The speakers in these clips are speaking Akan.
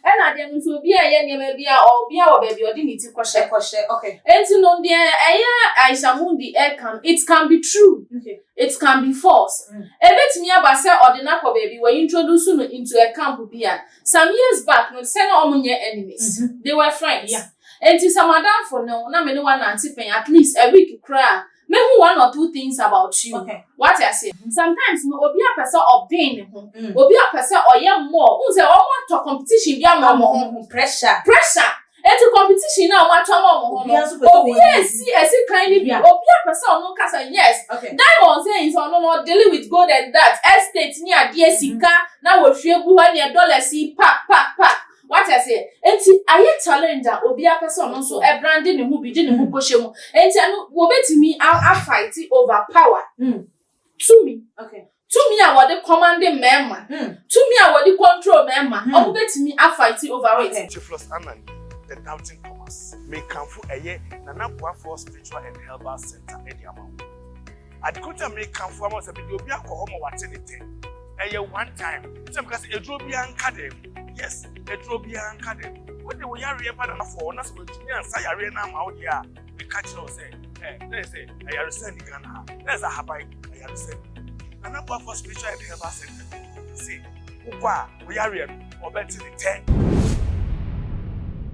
Ɛna adeɛ no nso obi a ɛyɛ nneɛma bi a ɔbea wɔ baabi ɔde ne ti kɔhyɛ. Kɔhyɛ okay. Enti no deɛ ɛyɛ Aisha Mundi ɛka no it can be true okay. it can be false mm. Ebetumi aba sɛ ɔde no akɔ baabi wɔ introduce no into a camp bi a some years back no sɛ na wɔn nyɛ enemies mm -hmm. they were friends. Yeah. Enti sɛ madamfo no na me ne wa nante pɛn at least a week koraa. Mehu one or two things about you. Okay. Wate aseɛ? Mm. Sometimes no, obi a pɛ sɛ ɔben ne ho. Mm. Obi a pɛ sɛ ɔyɛ mmɔɔ. Wohu sɛ wɔn atɔ competition bi ama wɔn ho. Pressure. Pressure. Eti competition na wɔn atɔ ama wɔn ho no. Obi a esi esi kan ni bi. Obi a pɛ sɛ ɔno nkasa yes. Okay. Diamond sɛ nsɛ ɔno no dealing with gold and that estate ni adeɛ sika na wɔhwie gu hɔ ɛnneɛ dollars yi pa pa pa. Wate aseɛ? Enti ayɛ challenge a obiara pɛ sɛ ɔno nso ɛbrande ne ho bi de ne ho kɔhyɛ mu. Enti ɛno wɔbɛtumi afight over power. Mm. Tumi. Okay. Tumi a wɔde kɔmande mmarima. Mm. Tumi a wɔde control mmarima. Mm. Wɔbɛtumi afight over it. Okay. Theophilus Annan, the doubting Thomas. Mekamfo ɛyɛ Nana Boafoɔ Spiritual and Herbal Center ɛde ama wo. Ade koro ti a mekamfo ama wo sɛ mede obi akɔ hɔ ma wate ne tɛ. Ɛyɛ one time. Sɛ meka sɛ aduro biara nka dɛm. Yes, aduro biara nka dɛm. Wode wo yareɛ ba na afɔ wo na sɛ wantumi ansa yareɛ no ama wo deɛ a, meka kyerɛ wo sɛ ɛ, na yɛ sɛ ayaresa nni Ghana ha. Na yɛ sɛ ahaban ayaresa nni. Nana Boafoɔ Spiritual and Herbal Center se wokɔ a, Wo yareɛ no, wɔbɛte ne tɛ.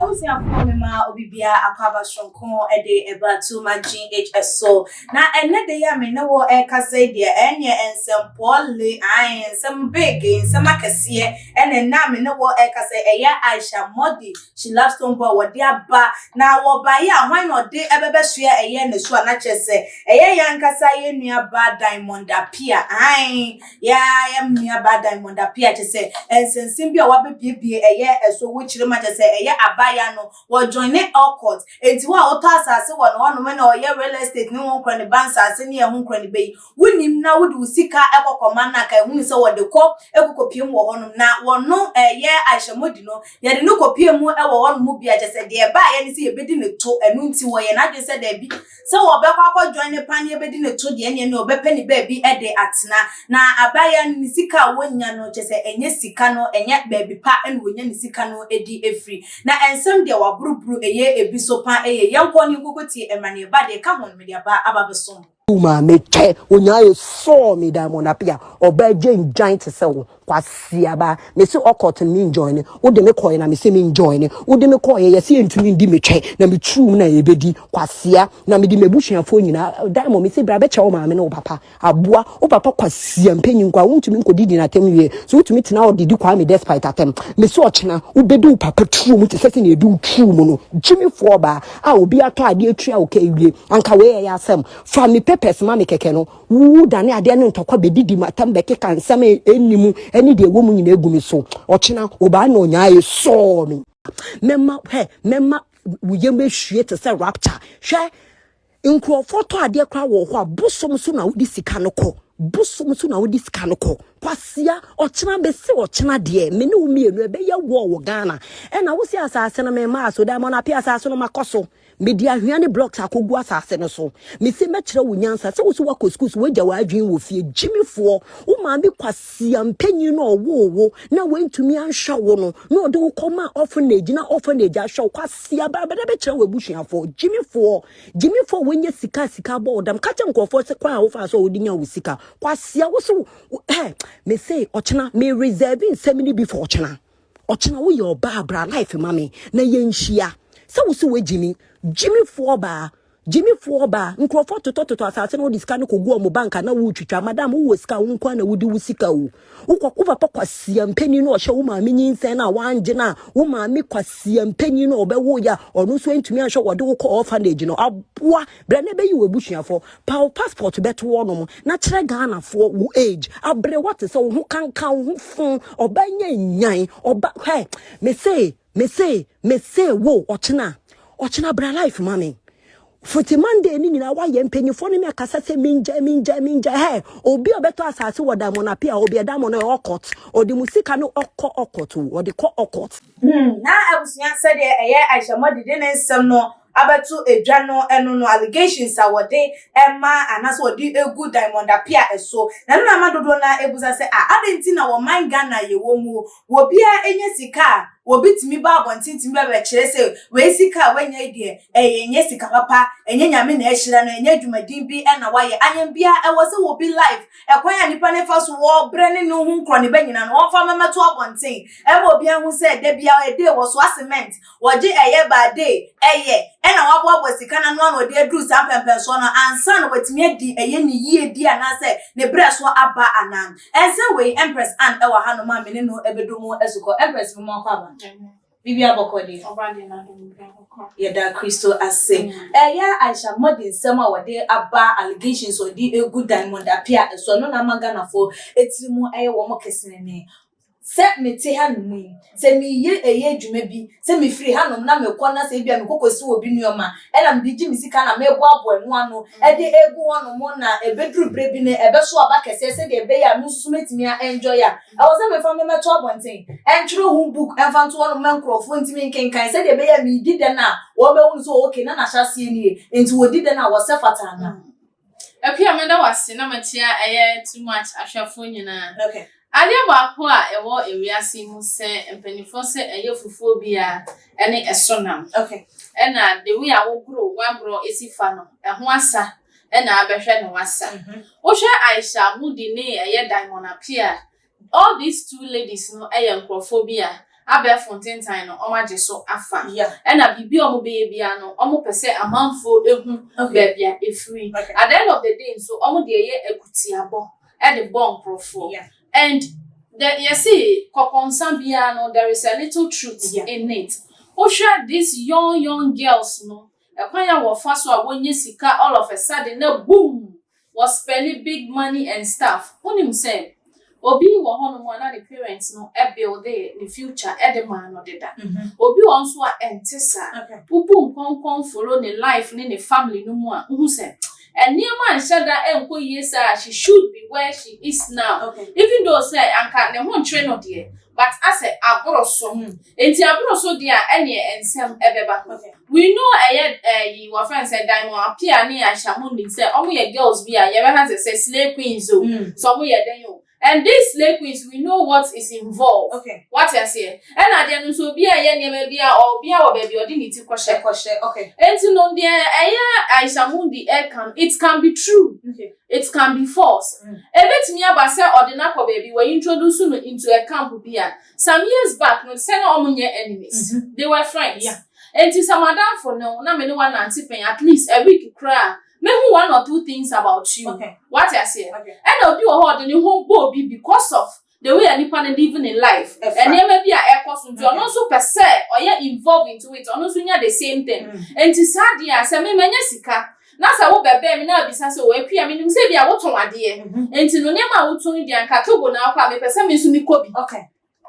Abusuafoɔ memaa obibiaa akwaaba soronko de baa Too Much GH so. Na ɛnnɛ da yi a me ne wo rekasa yi deɛ, ɛnneɛ nsɛm pɔɔle, ae, nsɛm big, nsɛm akɛseɛ ɛna ɛnnɛ a me ne wo rekasa yi, ɛyɛ Aisha Mordi, She Loves Stone Boy, wɔde aba. Na wɔbaeɛ a, hwan na ɔde bɛbɛsoɛ ɛyɛ ne so a? Na kyerɛ sɛ, ɛyɛ yɛn ankasa yɛn nuabaa Diamond Appiah, ae. Yɛa yɛn nua baa Diamond Appiah kyɛ sɛ ɛnsɛnsɛm bi a w'abɛbiebie ɛyɛ ɛso wo kyerɛ mu akyɛ sɛ ɛyɛ abaayaa no wɔ joine all court ɛnti wo a wotɔ asaase wɔ no hɔ nom na ɔyɛ real estate ne honkura ne ba nsaase ne ɛho nkura ne bɛ yi wo nim na wode wo sika ɛkɔ kɔ ma no a ka ɛhunu sɛ wɔde kɔ ɛkɔ kɔ pie mu wɔ hɔ nom na wɔ no ɛyɛ ahyɛmɔdi no yɛde no kɔ pie mu ɛwɔ hɔ nom bi akyɛ sɛ deɛ ɛbaayɛ ne sɛ yɛbɛdi ne to ɛno nti wɔ yɛn adwene sɛ daabi Sɛ wɔbɛkɔ akɔdwɔn ne paneɛ bɛdi ne to deɛ ɛneɛ ne ɔbɛpɛ ne baabi de atena. Na abaayewa no ne sika a wɔnya no kyɛ sɛ ɛnyɛ sika no ɛnyɛ baabi pa na wɔnya ne sika no di firi. Na ɛnsɛm deɛ wɔaboroboro ɛyɛ ɛbi so pa ɛyɛ yɛnkɔ ne nkɔkɔtie ɛmra ne ɛba deɛ ɛka ho no mede aba aba abɛsom. Wo maame kyɛ onyaa esɔɔ me diamond apia ɔbaa gyen gyan te sɛ wo Kwasiaba, mese ɔkɔt no menjoine, wode me kɔe na mese menjoine, wode me kɔe yɛse yɛntumi ndi metwɛ na meturum na yɛbɛdi kwasia na mede m'abusuafoɔ nyinaa Diamond mese bra bɛkyɛ wo maame ne wo papa aboa wo papa kwasia mpanyin kwa wontumi nkɔdi din atɛm wie so wotumi tena hɔ de di Kwame despite atɛm mese ɔkyena wobɛdi wo papa turum te sɛ sɛ na ɛdi wo turum no gyimifoɔ baa a obi atɔ adeɛ atua wo ka awie anka wei ɛyɛ asɛm fa me papers ma me kɛkɛ no Wodane adeɛ ne ntɔkwa bɛdidi m'atam bɛkeka nsɛm a ɛnni mu ne deɛ ɛwɔ mu nyinaa gu me so. Ɔkyena, ɔbaa na ɔnyaa esɔɔ me. Mɛma, hwɛ, mɛma wo yam ahwie te sɛ rapture. Hwɛ, nkurɔfoɔ tɔ adeɛ koraa wɔ hɔ a, bosom so na wode sika no kɔ. Bosom so na wode sika no kɔ. Kwasia, ɔkyena bɛsi ɔkyena deɛ, me ne wo mmienu ɛbɛyɛ wɔɔ wɔ Ghana. Ɛna wo se asase no mema aso, daamɔno apɛ asase no makɔ so. Mede anhwea ne blocks akogu asase no so. Mese mɛkyerɛ wo nyansa sɛ wose woakɔ sukuu so woagya w'adwene wɔ fie. Gyimifoɔ, wo maame kwasia mpanyin no a ɔwoo wo na wantumi anhwɛ wo no na ɔde wo kɔmaa orphanage na orphanage ahwɛ wo. Kwasia ba bɛda bɛkyerɛ w'abusuafoɔ. Gyimifoɔ, gyimifoɔ a wanya sika a sika abɔ wo dam. Ka kyerɛ nkurɔfoɔ sɛ kwan a wofaa so a wode nyaa wo sika. Kwasia, wose wo, eh, mese ɔkyena, me reserve nsɛm no bi for ɔkyena. Ɔkyena wo yɛ ɔbaa bra life ma me na yɛnhyia. Sɛ wo so woagyimi, gyimifoɔ ɔbaa, gyimifoɔ ɔbaa, nkurɔfoɔ totɔtotɔ asase no wode sika no kɔgu ɔmo banka na wotwitwa. Madam wowɔ sika a wo nkoa na wodi wo sika o. Wokɔ wo papa kwasia mpanin no ɔhyɛ wo maame nyinsɛn no a wangye no a wo maame kwasia mpanin no a ɔbɛwoyɛ a ɔno nso antumi anhwɛ wɔde wo kɔ orphanage no aboa Brɛ na bɛyi w'abusuafoɔ. Paw wo passport bɛto wɔnom na kyerɛ Ghanafoɔ wo age. Aberewa te sɛ wo ho kanka wo ho fo. Ɔbaa nya nyan. Ɔba hwɛ me se me se me se wo ɔkyena ɔkyena bra life ma me. Fiti Monday ne nyinaa woayɛ mpanyinfoɔ ne me akasa sɛ mengyae mengyae mengyae hɛ obi a ɔbɛtɔ asase wɔ Diamond Apia hɔ obi a Diamond no ɔkɔt ɔde mu sika no ɔkɔ ɔkɔt o ɔde kɔ ɔkɔt Hmm, na abusua sɛdeɛ ɛyɛ Aisha Mɔdi de ne nsɛm no abɛto dwa no ɛno no allegations a wɔde ma anaasɛ wɔde gu Diamond Appiah so na ɛno na ama dodoɔ no ara ɛbusa sɛ a adɛn nti na wɔ man Ghana a yɛwɔ mu wɔ biara ɛnya sika a obi tumi ba abɔnten tumi ba bɛkyerɛ sɛ wei sika a wanya yi deɛ ɛyɛ ɛnyɛ sika papa ɛnyɛ Nyame na ahyira no ɛnyɛ adwumaden bi na wayɛ ayɛn biara ɛwɔ sɛ wɔ bi life ɛkwan a nipa no fa so wɔ brɛ ne ne ho nkorɔ ne ba nyina no wɔmfa mɛmɛto abɔnten ɛma obiara hu sɛ da biara ɛdee wɔ soa cement wɔgye ɛyɛ baa dee ɛyɛ ɛna wɔaboaboa sika no ano a na wɔde aduru saa mpɛmpɛnsoɔ no ansa na wɔatumi adi ɛyɛ no yie bi anaasɛ ne berɛ so aba anaa. Ɛnsɛ wei Empress Anne ɛwɔ ha nom a me ne no ɛbɛdu mu asukɔ. Empress moma ɔkɔ aba no. Biribiara bɔkɔ deɛ. Ɔba deɛ n'adom biribiara bɔkɔ. Yɛda Kristo ase. Ɛyɛ Aisha Modi nsɛm a wɔde aba allegations a wɔde ɛgu Diamond Appiah ɛso ɛno na ama Ghanafoɔ ɛtiri mu ɛyɛ wɔn kesenenee. sɛ mete hanom yi, sɛ meyɛ ɛyɛ adwuma bi, sɛ mefiri hanom na mekɔ na sɛ ebia mekɔkɔsi obi nneɛma ɛna mede gye me sika na meboaboa ɛno ano ɛde egu hɔnom na ɛbɛduru berɛ bi no ɛbɛso aba kɛseɛ sɛdeɛ ɛbɛyɛ a me nso so mɛtumi a enjoy a ɛwɔ sɛ mefa no mɛto abɔnten ɛntwerɛ ho book ɛmfa nto hɔnom ma nkurɔfoɔ ntumi nkenkan sɛdeɛ ɛbɛyɛ a medi dɛn a wɔbɛhu no sɛ okay na n'ahyɛaseɛ nie nti wɔdi dɛn a wɔsɛ fata anaa Akua meda wo ase na makyia ɛyɛ too much ahwɛfoɔ nyinaa. Okay. Adeɛ baako a ɛwɔ ewiase yi mu sɛ mpanimfoɔ sɛ ɛyɛ fufuo biara ɛne ɛso nam. Okay. Ɛna the way a wogoro w'aborɔ esi fa no ɛho asa ɛna abɛhwɛ na wasa. Mhm. Wohwɛ Aisha Mudi ne ɛyɛ Diamond Apia All these two ladies no yɛ nkorɔfoɔ bi a abɛɛfo ntentan no wɔn agye so afa ɛna biribi a wɔn bɛyɛ biara no wɔn pɛ sɛ amanfoɔ ɛhu baabi a ɛfiri at the end of the day nso wɔn deɛ yɛ akutiabɔ de bɔ nkorɔfoɔ and the yɛse kɔkɔnsa biara no there is a little truth in it wo hwɛ these young young girls no ɛkwan a wɔfa so a wɔnya sika all of a sudden na boom Wɔ spɛli big money and stuff wonim sɛ obi wɔ hɔ nom a na ne parents no buildee ne future de maa no deda obi wɔ hɔ nso a ɛnte saa wobu nkɔnkɔn follow ne life ne ne family no mu a wohu sɛ nneɛma nhyɛ da nkɔ yie saa a she should be where she is now even though sɛ anka ne ho nkyere no deɛ But asɛ aboroso hmm enti aboroso deɛ a ɛneɛ nsɛm ɛbɛba We know ɛyɛ eh yi wɔfrɛ no sɛ Diamond Appiah ne Aisha monim sɛ ɔmo yɛ girls bi a yɛbɛka sɛ sɛ slay queens o sɛ ɔmo yɛ dɛn o And these slay queens we know what is involved Wate aseɛ ɛna adeɛ no nso obiara ɛyɛ nneɛma bi a ɔ obiara wɔ baabi a ɔde ne ti kɔhyɛ Enti no deɛ ɛyɛ Aisha Mundi ɛɛka no it can be true It can be false, Ebetumi aba sɛ ɔde no akɔ baabi, wɔ introduce no into a camp bi a. Some years back no, te sɛ na wɔn nyɛ enemies, they were friends. Enti sɛ m'adamfo ne wo na me ne wo anante pɛn at least a week koraa a, mɛhu one or two things about you. Wate aseɛ? Ɛna obi wɔ hɔ a ɔde ne ho bɔ obi because of the way a nipa no live ne life nneɛma bi a ɛkɔ so nti ɔno nso pɛ sɛ ɔyɛ involve into it ɔno nso nya the same thing mm. nti saa deɛ a sɛ mema nya sika na sɛ wobɛbɛn me na abisa sɛ wɔ apia menim sɛ bi a wotɔn adeɛ mhm. nti no nneɛma a wotɔn deɛ anka togo na akɔ a mepɛ sɛ me nso mekɔ bi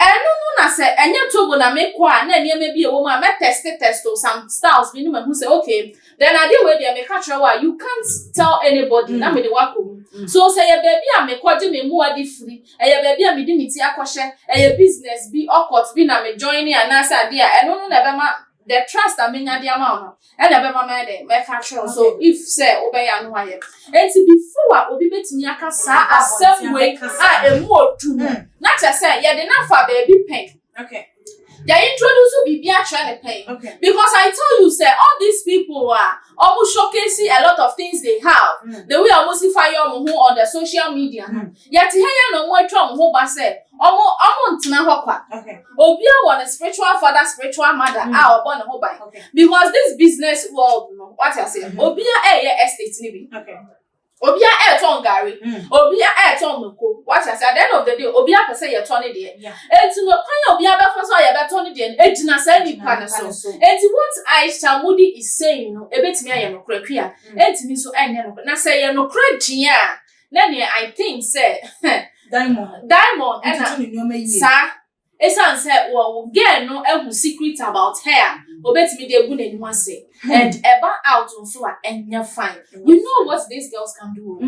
ɛno no na sɛ ɛnyɛ togo na mekɔ a na nneɛma bi ɛwɔ mu a mɛtɛste tɛsto some styles bi ne mahu sɛ okay Then ade wei deɛ meka kyerɛ wo a you can't tell anybody na mede wo akɔ mu. So sɛ ɛyɛ baabi a mekɔgye me mmoa de firi, ɛyɛ baabi a mede me ti akɔhyɛ, ɛyɛ business bi, ɔcourt bi na me joine anaasɛ adeɛ a, ɛno no na ɛbɛma the trust a menya de ama wo no ɛna ɛbɛma mayɛ dɛn mɛka akyerɛ wo. So if sɛ wobɛyɛ a na woayɛ. Enti before a obi bɛtumi aka saa asɛm wei a ɛmu ɔduru no, na kyerɛ sɛ yɛde no afa baabi pɛn. Yɛ introduce biribi akyerɛ ne pɛn. Okay. Because I tell you sɛ all these people a ɔmo showcase a lot of things they have mm. the way ɔmo si fa yɛ ɔmo ho on the social media no. Mm. Yɛte ha yɛ na ɔmo atwa ɔmo ho ba sɛ ɔmo ɔmo ntena hɔ kwa. Okay. Obiara wɔ ne spiritual father spiritual mother mm. a ɔbɔ ne ho ban. Okay. Because this business world no wate aseɛ mm-hmm. obiara ɛyɛ estate ni bi. Okay. obia ɛɛtɔn gari mm. obia ɛɛtɔn mako wate ase at the end of the day obia pɛ sɛ yɛtɔ ne deɛ enti no kwan a obia bɛfa so a yɛbɛtɔ ne deɛ no ɛgyina saa nipa no so enti what aisha mudi is saying no ɛbɛtumi ayɛ nokorɛ kwi a mm. ɛntumi nso ɛnyɛ nokorɛ na sɛ yɛ nokorɛ deɛ a na neɛ i think sɛ diamond diamond ɛna saa Esiane sɛ wɔ girl no ahu secret about her a obetumi de agu n'anim ase and ɛba out nso a ɛnyɛ fine. We know what these girls can do o.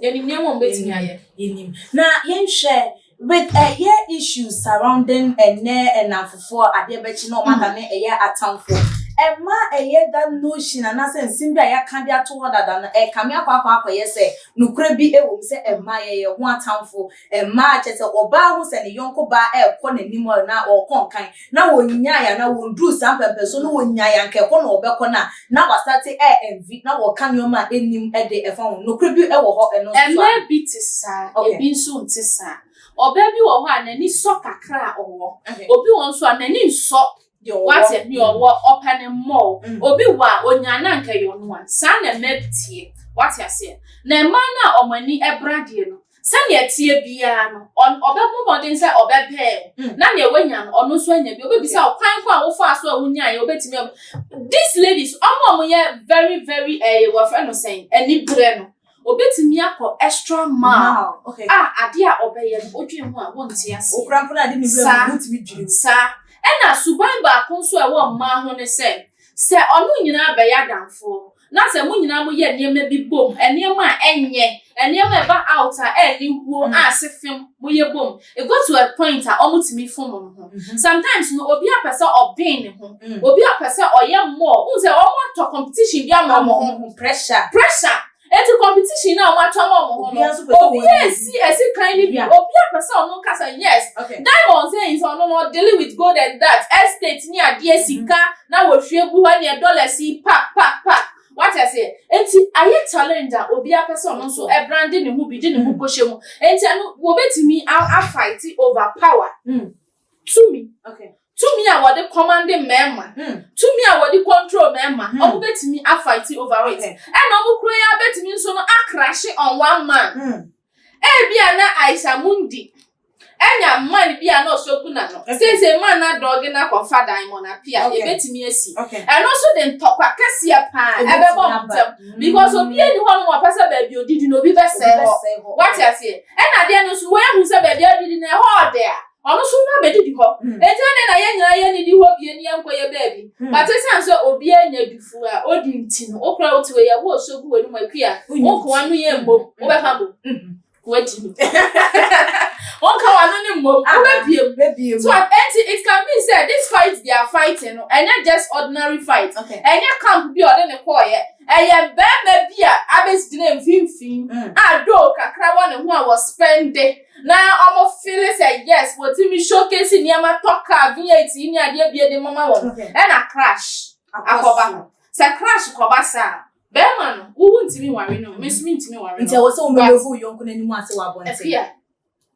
Yɛnim nneɛma a wɔbetumi ayɛ. Yɛnim. Na yɛnhwɛ with ɛyɛ issues surrounding ɛnɛ ɛnamfofoɔ adeɛ bɛkye na wɔadane ɛyɛ atamfoɔ. Ɛma ɛyɛ that notion anaasɛ nsɛm bi a yɛaka de ato hɔ dada no ɛkame akɔ akɔ akɔyɛ sɛ nokorɛ bi wɔ mu sɛ ɛmma yɛyɛ ho atamfoɔ. Mmaa, kyerɛ sɛ ɔbaa hu sɛ ne yɔnko baa ɛrekɔ n'anim a na ɔrekɔ nkan na wɔnnyae anaa wɔnduruu saa mpɛmpɛnsoɔ no wɔnnyae anka ɛkɔ na ɔbɛkɔ no a na wasate ɛ envy na wɔka nneɛma a ɛnnim de ɛfa ho. Nokorɛ bi wɔ hɔ ɛno nso so a. Mmaa bi te saa, ɛbi nso nte saa. Ɔbaa bi wɔ hɔ a n'ani sɔ kakra a ɔwɔ. Obi wɔ hɔ nso a n'ani nsɔ. Deɛ ɔwɔ. Wate deɛ ɔwɔ ɔpɛ ne mmɔɔ. Mm. Obi wɔ a onyaa na anka ɛyɛ ɔno a. Saa na mmaa bi teɛ. Wate aseɛ? Na mmaa no a wɔn ani bra deɛ no, sɛdeɛ ɛteɛ biara no, ɔn ɔbɛbɔ mmɔden sɛ ɔbɛpɛɛ wo. Mm. Na deɛ wanya no, ɔno nso anya bi. Obebisa wo kwan ko a wofaa so a wonyaeɛ, obetumi ab. These ladies, wɔn a wɔyɛ very very ɛɛ wɔfrɛ no sɛn, anibrɛ no, Obetumi akɔ extra mile a ade a ɔbɛyɛ no odwen ho a wonte aseɛ. Saa. Ɛna suban baako nso a ɛwɔ mmaa ho ne sɛ, sɛ ɔno nyinaa bɛyɛ adamfoɔ na sɛ mo nyinaa moyɛ nneɛma bi bom, nneɛma a ɛnyɛ, nneɛma a ɛba out a ɛne wuo a se fem moyɛ bom, It got to a point a ɔmo tumi fom ɔmo ho. Sometimes no obi a pɛ sɛ ɔben ne ho, obi a pɛ sɛ ɔyɛ more, wohu sɛ ɔmo atɔ competition bi ama ɔmo ho. Pressure. Pressure. Enti competition no a ɔmo atɔ ama ɔmo ho no, obiara esi esi kan no bi, obiara pɛ sɛ ɔno nkasa yes, diamonds eh nti ɔno no ɔdele with gold and that, estate ne adeɛ, sika na wɔhwie gu hɔ ɛneɛ dollars yi pak pak pak. Wate aseɛ? Enti ayɛ challenge a obiara pɛ sɛ ɔno nso ɛbrande ne ho bi de ne ho kɔhyɛ mu. Enti ɛno wɔbɛtumi afight over power. Mm. Tumi. Okay. Tumi a wɔde kɔmande mmarima. Mm. Tumi a wɔde control mmarima. Mm. Wɔbɛtumi afight over it. Okay. Ɛna wɔn kura yi abɛtumi nso no akrahye on one man. Mm. Ebia na Aisha Mundi anya man bi a na ɔsɔ gu na no. Sese man na dɔɔge na kɔfa dan mo na pia ebetumi asi. Ɛno nso de ntɔkwa kɛseɛ paa ɛbɛbɔ mo ntɛm mm. because obi ani hɔ nom ɔpɛ sɛ baabi odidi na obi bɛsɛe hɔ. Wate aseɛ? Ɛna adeɛ no nso wɔahu sɛ baabi adidi na ɛhɔ ɔde a Ɔno nso na bedidi hɔ. Enti ɛnde na yɛn nyinaa yɛn nnidi hɔ bio na yɛnkɔyɛ baabi. But esiane sɛ obiara nya dufu a odi nti no, wo koraa wote wei a, wo osuo gu w'anom api a, wo nkoa no yɛ mmom, wobɛfa bo? Wadi no. Wonka w'ano no mmom, wobɛbie mu. So enti it can mean sɛ this fight they are fighting no, ɛnyɛ just ordinary fight. Ɛnyɛ camp bi a ɔde ne kɔɔeɛ. Ɛyɛ barima bi a abɛgyina mfimfini a though kakra wɔ ne ho a wɔspɛnde Na ɔmo fili sɛ yes wɔtumi showcase nneɛma tɔ car V8 yi ne adeɛ bie de mama wɔn ɛna crash akɔba hɔ sɛ crash kɔba saa a bɛɛma no wo wo ntumi nware no me nso me ntumi nware no nti ɛwɔ sɛ wo move wo yɔnko no anim ase wɔ abɔnten ɛfia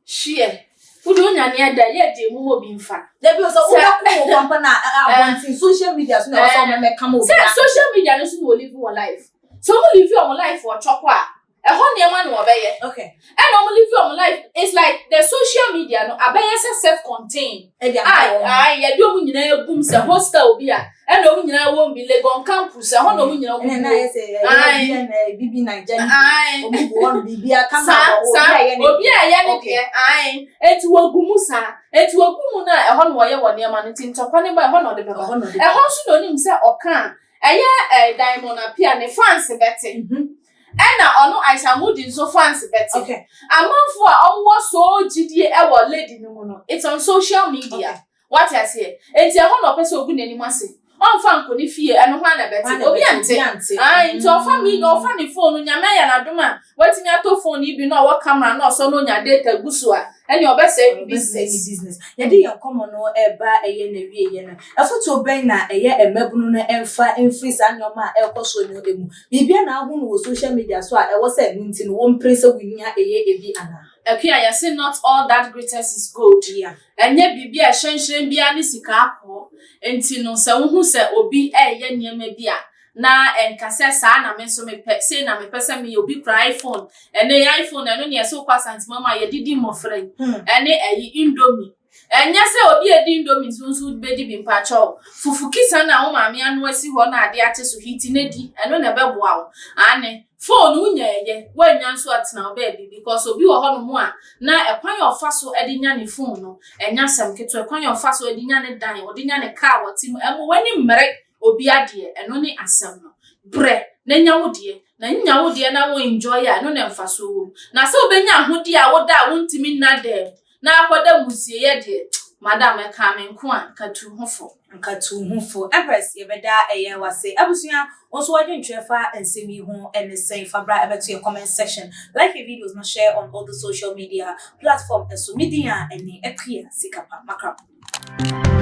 hyeɛ wo de onya ne ɛda yɛ deɛ mu ma obi nfa dabi o sɛ wo bɛ ko wo pampa na abɔnten social media so na ɛwɔ sɛ wo mɛmɛ kama obi sɛ social media no so na olive wɔ life so mo live wɔn life wɔ chɔkɔ a Ɛhɔ nneɛma na wɔbɛyɛ. Okay. Ɛna wɔn live wɔn life. It's like the social media no abɛyɛ sɛ self contained. Ɛdi ama ah, wɔn. Ah, yɛde wɔn nyinaa egum sɛ hostel obi a. Ɛna wɔn nyinaa wɔn bi Legon campus. Ɛhɔ na wɔn nyinaa wɔn. Ɛna ayɛ sɛ ɛyɛ na bibi na gya ni. Wɔn bu wɔn bibi aka ma wɔn. Obi a yɛ ne. Obi a yɛ ne deɛ. Ayi. Eti wɔgumu saa. Eti wɔgumu na ɛhɔ na wɔyɛ wɔn nneɛma no ti ntɔkwa ne ba ɛhɔ na ɔde bɛba. Ɛhɔ nso na onim sɛ ɔka a ɛyɛ ɛɛ eh, diamond apia ne fans bɛte. Mhm. Nna ɔno Aisha Moody nso fans bɛtse. Amamfo a wɔwɔ sɔɔ gyidie wɔ lady no mu no, it's on social media. Wate aseɛ? Enti ɛhɔ na ɔpɛ sɛ ɔgu n'anim ase. Ɔmfa nkɔ ne fie, ɛno hwan na ɛbɛte? Obi nte. Ae, nti ɔfa me, ɔfa ne phone no, Nyame ayɛ no adom a, watumi atɔ phone yi bi na ɔwɔ camera na ɔsɔ na ɔnya data gu so a, ɛneɛ ɔbɛsɛe ne business. Yɛde yɛn nkɔmmɔ no reba ɛyɛ n'awieɛ no, afotuo bɛn na ɛyɛ mmabunu no mfa mfiri saa nneɛma a ɛrekɔ soɔ no mu? Biribiara na ahunu wɔ social media so a ɛwɔ sɛ ɛno nti no wompere sɛ wuhia ɛyɛ ebi anaa? Akua, yɛse not all that glitters is gold, ɛnyɛ biribiara a ɛhyɛnhyerɛn biara ne sika akɔɔ, enti no sɛ wohu sɛ obi reyɛ nneɛma bi a na ɛnka sɛ saa na me nso mepɛ, sei na mepɛ sɛ meyɛ, obi kura iPhone, ɛnɛ iPhone ɛno nea ɛsɛ wokɔ Asanteman mu a yɛde di mmɔfra yi, ɛne ayi, indomie. Ɛnyɛ sɛ obi a edi indomie nso nso wode bedi bi mpakyɛw. Fufu kisa no a wo maame anoa si hɔ na ade akye so hiti na di, ɛno na ɛbɛboa wo. Aane, phone wo nya ɛyɛ, woannya nso a tena wo baabi because obi wɔ hɔnom a na ɛkwan a ɔfa so de nya ne phone no ɛnyɛ asɛm ketewa, ɛkwan a ɔfa so de nya ne dan, ɔde nya ne car a ɔte mu, ɛmmo w'ani mmere obi adeɛ, ɛno ne asɛm no. Brɛ na nya wo deɛ, na nnya wo deɛ na wo enjoy a ɛno na mfasoɔ wɔ mu. Na sɛ wobɛnya ahodeɛ a woda a wontumi nna da mu, na akɔda muzieyɛ deɛ, madam, ɛkaa me nko a, nkatu ho fo. Nkatu ho fo. Empress, yɛbɛda yɛn w'ase. Abusua, wo nso w'adwentwerɛ fa nsɛm yi ho ne sɛn? Fa bra bɛto yɛn comment section. Like yɛn videos na share on all the social media platform so. Me din a ɛne Akua Sikapa. Makrabo.